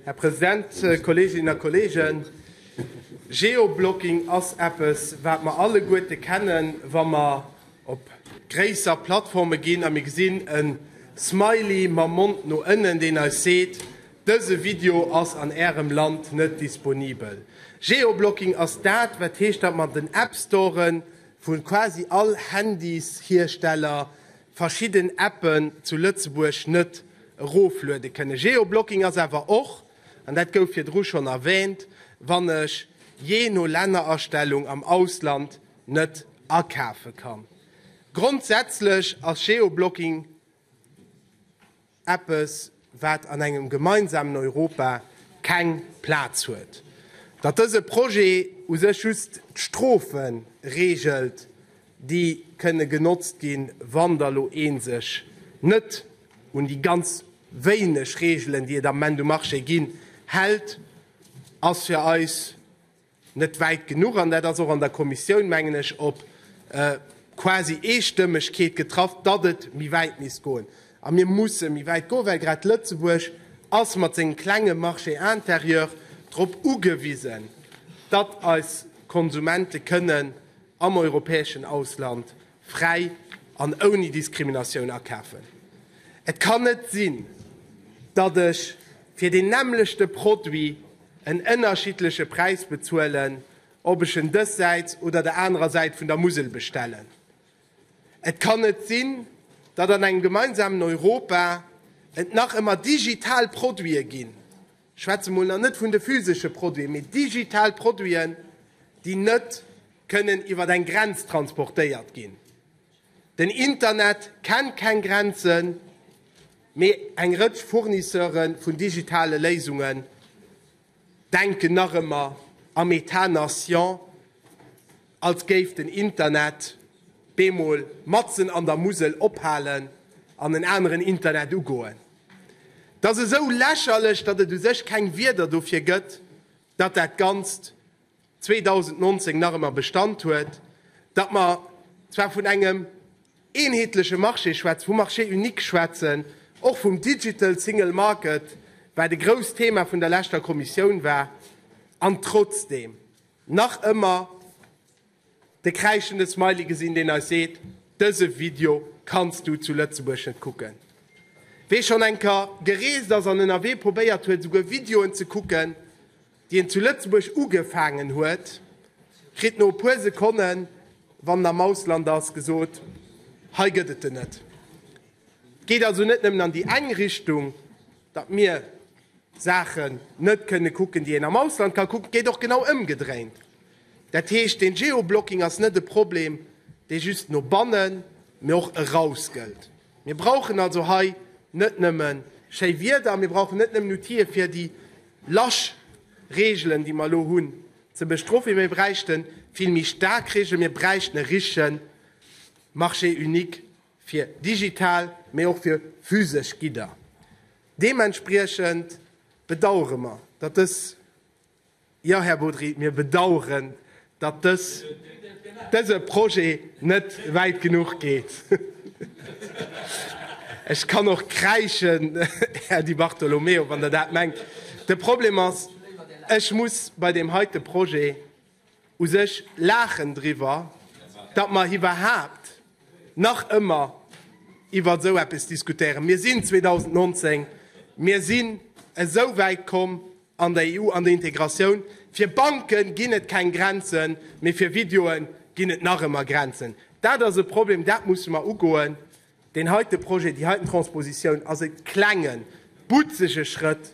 Här President, Kolleeginnen a Kolleegen, Geoblocking ass eppes, wat mer alleguerte kennen, wa mer op gréisser Plattforme ginn a mir gesinn e Smiley mam Mond no ënnen, deen eis seet, Dëse Video ass an Ärem Land net disponibel. Geoblocking ass dat, wat heescht, datt mer den App Storen vu quasi all Handyshiersteller verschidden Appen zu Lëtzebuerg net erofluede kënne. Geoblocking ass awer och, an dat gouf virdru schonn erwähnt, wann ech jee no Lännerastellung am Ausland net akafe kann. Grondsätzlech ass Geoblocking. Eppes, wat an engem gemeinsamen Europa keng Plaz huet. Datt dëse Projet u sech just d'Strofe reegelt, déi kënne genotzt ginn, wann der elo ee sech net un déi ganz wéineg Reegelen, déi et am Ament um Marché ginn, hält, ass fir eis, net wäit genuch, an dat ass och an der Kommissioun, mengen ech, op quasi Eestëmmegkeet getraff, datt et méi wäit misst goen. A mir musse méi wäit goen, well grad Lëtzebuerg ass mat sengem klenge Marché intérieur drop ugewisen, datt eis Konsumente kënnen am europäeschen Ausland fräi an ouni Diskriminatioun akafen. Et kann net sinn, datt ech fir deen nämmlechte Produit, en ënnerschiddleche Präis bezuelen, ob ech en dëssäits oder der anerer Säit vun der Musel bestellen. Et kann net sinn, datt an engem gemeinsamen Europa et nach ëmmer digital Produite ginn, ech schwätze mol nach net vun de physesche Produiten, mee digital Produiten, déi net kënnen iwwer eng Grenz transportéiert ginn. Den Internet kennt keng Grenzen, mee eng Rëtsch Fournisseure vun digitale Léisungen denken nach ëmmer am Etat nation, als géif den Internet bemol matzen an der Musel ophalen an en aneren Internet ugoen. Et ass esou lächerlech, datt et u sech keng Wierder dofir gëtt, datt dat Ganzt 2019 nach ëmmer Bestand huet, datt mer zwar vun engem eenheetleche Marché schwätzen, vum Marché unique schwätzen, och vum Digital Single Market, wat e grousst Thema vun der leschter Kommissioun war, an trotzdeem nach ëmmer de kräischende Smiley gesinn, deen eis seet, Dëse Video kanns du zu Lëtzebuerg net kucken. Wee schonn enker gereest ass an ënnerwee probéiert huet, esouguer Videoen ze kucken, déi en zu Lëtzebuerg ugefaangen huet, kritt no e puer Sekonnen, wann en am Ausland ass, gesot, Hei gëtt et en net. Et geet also net nëmmen an déi eng Richtung, datt mir Saachen net kënne kucken, déi een am Ausland ka kucken, et geet och genau ëmgedréint. Dat heescht, deen Geoblocking ass net e Problem, dee just no bannen, mee och eraus gëllt. Mir brauchen also hei net nëmme schéi Wieder, mir brauchen net nëmmen Outile fir déi lasch Regeln, déi mer elo hunn, ze bestrofen, mee mir bräichte vill méi staark Regeln. Mir bräichten e richtige Marché unique fir digital, mee och fir physesch Gidder. Deementspriechend bedauere mer, datt dës Jo, Här Bodry, mir bedauern, datt dëse Projet net wäit genuch geet. Ech kann och kräischen, Här Di Bartolomeo, wann Der dat mengt. De Problem ass, ech muss bei deem heite Projet, u sech laachen driwwer, datt mer iwwerhaapt nach ëmmer iwwer esou eppes diskutéieren. Mir sinn 2019, mir sinn esou wäit komm an der EU, an der Integratioun. Fir Banke ginn et keng Grenzen, mee fir Videoe ginn et nach ëmmer Grenzen. Dat ass e Problem, dat musse mer ugoen. Deen heite Projet, déi heiten Transpositioun ass e klenge, butzege Schrëtt.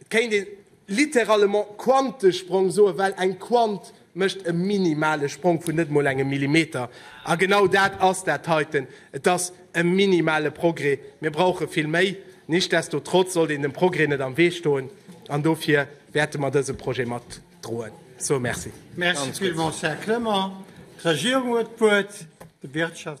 Et kéint een littéralement Quantesprong soen, well eng Quant mécht e minimale Sprong vun net emol engem Millimeter. A genau dat ass dat heiten, et ass e minimale Progrès. Mir brauche vill méi. Nichtsdestotrotz sollt een dem Progrès net am Wee stoen, an dofir wäerte mer dëse Projet matdroen. Sou, merci. Merci villmools, Här Clement. D'Regierung huet d'Wuert.